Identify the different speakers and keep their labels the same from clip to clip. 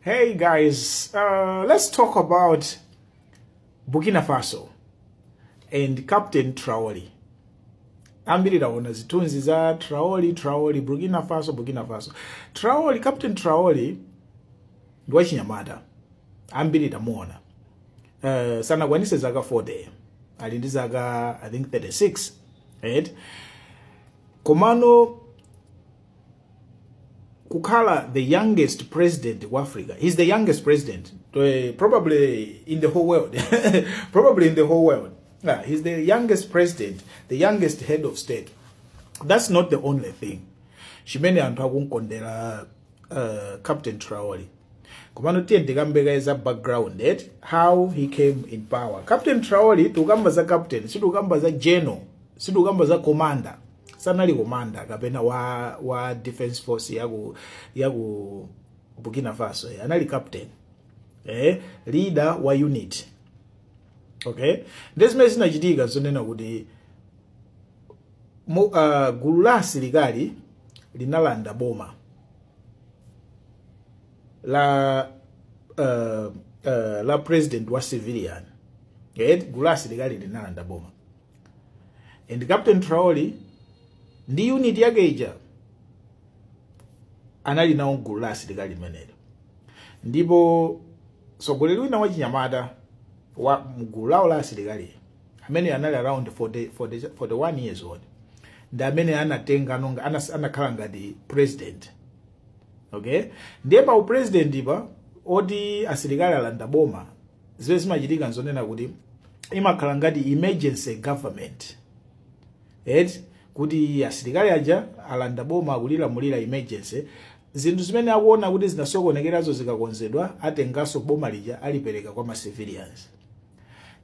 Speaker 1: Hey guys, uh, let's talk about Burkina Faso and Captain Traore. ambiri taona zithunzi za Traore, Traore, Burkina Faso, Burkina Faso. Traore, Captain Traore ndi wachinyamata ambiri tamuona uh, sanakwanise zaka 40 ali ndi zaka i think 36 right? komano kukhala the youngest president ku africa he's the youngest president eh, probably in the whole world probably in the whole world yeah, he's the youngest president the youngest head of state that's not the only thing chimene anthu akunkondera uh, captain traoli komano tiye ndikambeka za background at eh? how he came in power captain traoli tikukamba za captain sitikukamba za general sitikukamba za commander sanali komanda kapena wa, wa defense force ya ku, ya ku burkina faso eh, anali captain eh, leader wa unit okay ndi zimene zinachitika zonena kuti mu, uh, gulu la asilikali linalanda boma la uh, uh, la president wa civilian eh, gulu la asilikali linalanda boma and captain traoli ndi unit yake ija anali nawo mgulu la asilikali limenelo ndipo mtsogoleri wina wachinyamata wa mgulu lawo la asilikali amene anali around 40, 40, 41 years old ndi amene anatenga, anas- anakhala ngati president okay ndiye pa upresident pa oti asilikali alanda boma zimene zimachitika nzonena kuti imakhala ngati emergency government eti kuti asilikali aja alanda boma akulilamulira emergency zinthu zimene akuona kuti zinasokonekerazo zikakonzedwa atenganso boma lija alipereke kwa ma civilians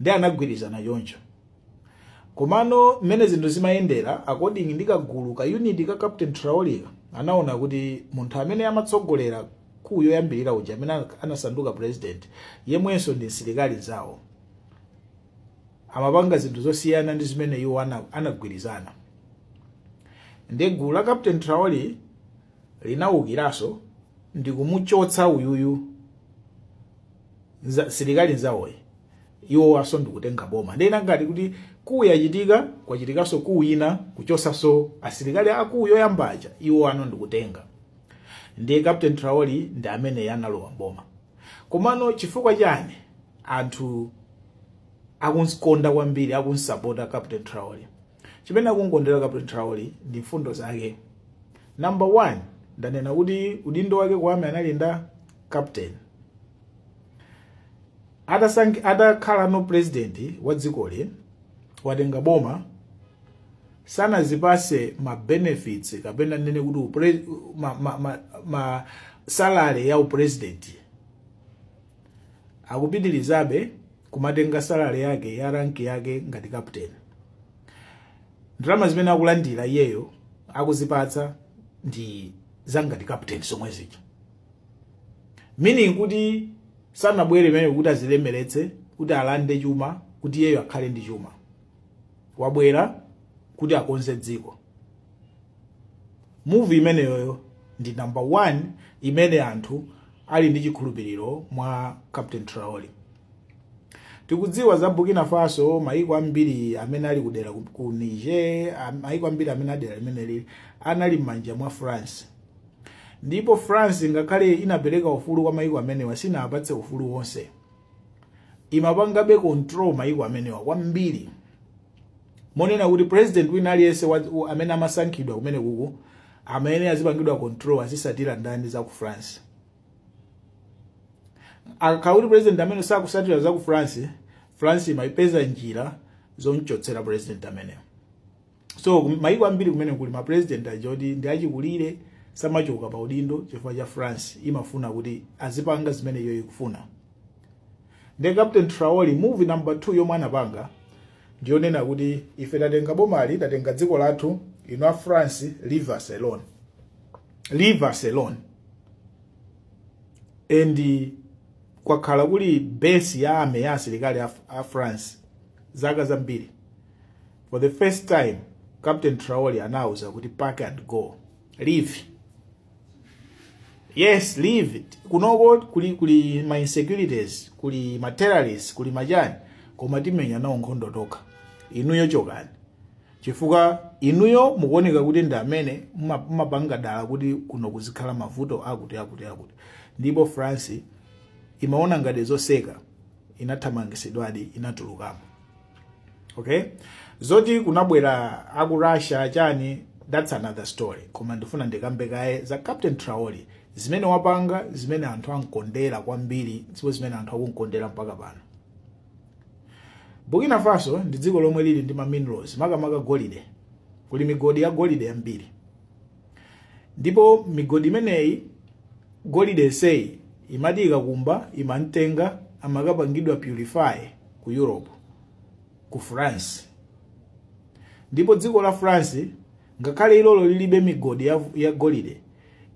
Speaker 1: ndiye anagwirizana choncho Komano mmene zinthu zimayendera according ndi kagulu ka unit ka Captain Traore ka anaona kuti munthu amene amatsogolera coup yoyambirira ija amene anasanduka president yemwenso ndi msilikali nzawo amapanga zinthu zosiyana ndi zimene iwo anagwirizana ndiye gulu la Captain Traore linaukiranso ndi kumuchotsa uyuyu msilikali nzawoyu iwowanso ndikutenga boma ndiye zinangati kuti coup yachitika kwachitikaso coup ina kuchosaso asilikali a coup yoyamba aja iwowano ndikutenga ndiye captain traoli ndi amene analowa m'boma komano chifukwa chani anthu akumkonda kwambiri akumsapota captain traoli chimene akumkondera captain traoli ndi mfundo zake number one ndanena kuti udindo wake ku army anali nda captain atasank atakhala ano president wa dzikoli watenga boma sanazipase ma benefits kapena nene kuti upre, ma, ma, ma, ma salary a upresident akupitirizabe kumatenga salary yake ya rank yake ngati captain ndalama zimene akulandira iyeyo akuzipatsa ndi zangati captain zomwe zikumeaning kuti sanabwere pamenepo kuti azilemeretse kuti alande chuma kuti iyeyo akhale ndi chuma wabwera kuti akonze dziko move imeneyoyo ndi number one imene anthu ali ndi chikhulupiriro mwa captain traore tikudziwa za burkina faso maiko ambiri amene ali kudera ku- ku niger am- maiko ambiri amene a dera limeneli anali m'manja mwa france ndipo france ngakhale inapereka ufulu kwa maiko amenewa sinapatse ufulu wonse imapangabe control maiko amenewa kwambiri monena kuti president wina aliyense amene amasankhidwa kumenekuku amene azipangidwa control azitsatira ndani za ku France akakhala kuti president amene sakutsatira za ku France France imapeza njira zomchotsera president ameneyo so mayiko ambiri kumeneku ali ndi ma president oti ndi achikulire samachoka pa udindo chifukwa cha France imafuna kuti azipanga zimene iyo ikufuna ndi Captain Traore move number 2 yomwe anapanga ndiyonena kuti ife tatenga bomali tatenga dziko lathu inu a France leave us alone leave us alone and kwakhala kuli base ya ame ya asilikali a, a France zaka zambiri For the first time, Captain Traore anauza kuti pack and go. Leave us, leave us. Kunoko kuli kuli ma insecurities, kuli ma terrorists, kuli machani koma timenya nawo nkhondo tokha. Inuyo chokani. Chifukwa inuyo mukuoneka kuti ndi amene muma- mumapanga dala kuti kuno kuzikhala mavuto akuti akuti akuti. Ndipo France imaona ngati zoseka inathamangitsidwadi inatulukamo. okay zoti kunabwera aku russia chani that's another story koma ndifuna ndikambe kaye za captain traore zimene wapanga zimene anthu amkondera kwambiri ndipo zimene anthu akumkondera mpaka pano burkina faso ndi dziko lomwe lili ndi ma minerals makamaka golide kuli migodi ya golide yambiri ndipo migodi imeneyi golide yenseyi imati ikakumba imamtenga amakapangidwa purify ku europe ku france ndipo dziko la france ngakhale ilolo lilibe migodi ya, ya golide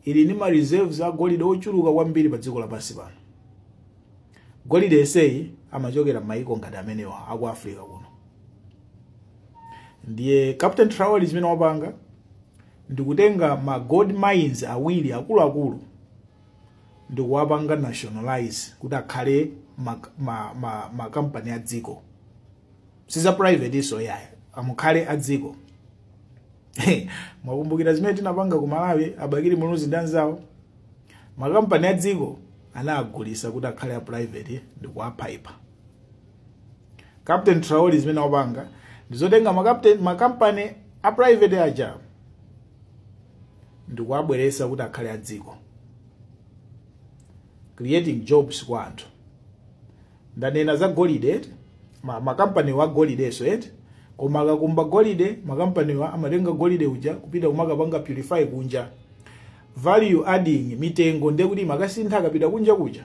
Speaker 1: ili ndi ma reserves a golide ochuluka kwambiri pa dziko lapansi pano Golide yenseyi amachokera m'mayiko ngati amenewa aku Africa kuno. Ndiye Captain Traore chimene wapanga ndikutenga ma gold mines awiri akuluakulu ndikuwapanga nationalize kuti akhale makampani ma, ma, ma a dziko. si za private so iyayi akhale a dziko mukumbukira zimene tinapanga ku malawi a Bakili Muluzi ndi anzawo makampani adziko anagulisa kuti akhale a private ndi kuwaphaipa captain Traore zimene wapanga ndizotenga makapteni makampani a private aja ndikuwabweresa kuti akhale adziko creating jobs kwa anthu ndanena za golide eti ma, makampaniwa agolidenso eti koma akakumba golide makampaniwa amatenga golide uja kupita kumakapanga purify kunja value adding mitengo ndiye kuti imakasintha akapita kunja kuja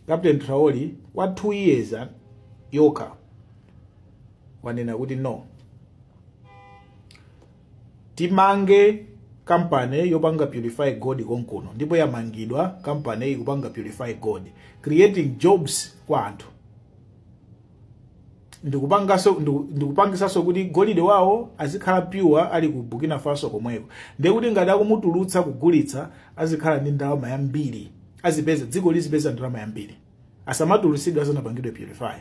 Speaker 1: captain Traore kwa 2 years ah, yokha wanena kuti no timange company yopanga purify gold konkuno ndipo yamangidwa company ikupanga purify gold creating jobs kwa anthu ndikupangaso ndiku- ndikupangisaso kuti golide wawo azikhala pure ali ku burkina faso komweko ndiye kuti ngati akumutulutsa kugulitsa azikhala ndi ndalama yambiri azipeza dziko lizipeza ndalama yambiri asamatulutsidwe asanapangidwe purify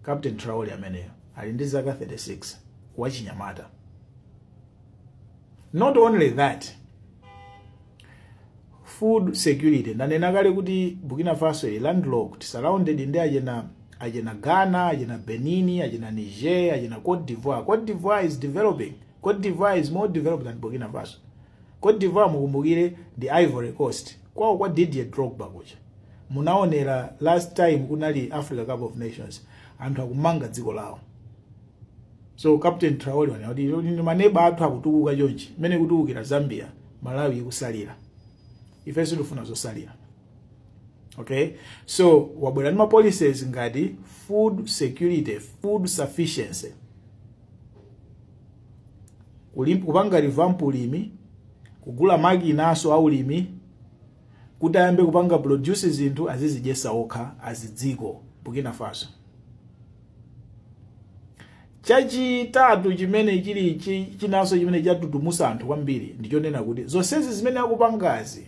Speaker 1: captain Traore ameneyo ali ndi zaka 36 wachinyamata not only that food security ndanena kale kuti burkina faso ili landlocked surrounded ndi achina achina ghana achina benin achina niger achina cote d'ivoire cote d'ivoire is developing Côte d'Ivoire is more developed than Burkina Faso. Côte d'Ivoire mukumbukire ndi Ivory Coast. Kwawo kwa Didier Drogba kuja. Munaonera last time kunali Africa Cup of Nations. Anthu akumanga dziko lawo. So Captain Traore wanena kuti "No, maneba athu akutukuka chonchi. Mmene ikutukukira Zambia, Malawi ikusalira. Ife sitifuna zosalira. okay so wabwera ndi mapolicies ngati food security food sufficiency Kulim- kupanga revamp ulimi kugula makinaso a ulimi kuti ayambe kupanga produce zinthu azizidyetsa okha a m'dziko burkina faso chachitatu chimene chili chi- chinanso chimene chatutumusa anthu kwambiri ndichonena kuti zonsezi zimene akupangazi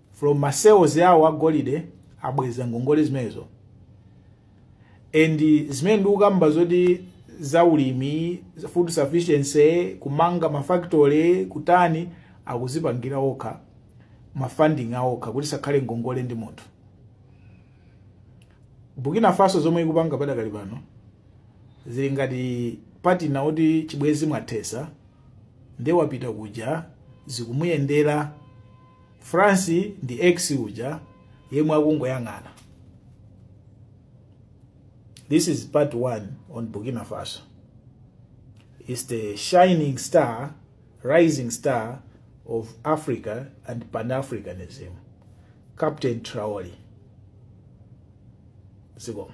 Speaker 1: from ma sales awo a golide abweza ngongole zimenezo and zimene ndikukamba zoti za ulimi food sufficiency kumanga mafactory kutani akuzipangira okha mafunding aokha kuti sakhale ngongole ndi munthu burkina faso zomwe ikupanga padakali pano zili ngati patina oti chibwezi mwathesa nde wapita kuja zikumuyendera france ndi x uja yemwe akungoyang'ana this is part one on burkina faso is the shining star rising star of africa and pan-africanism captain traoli zikomo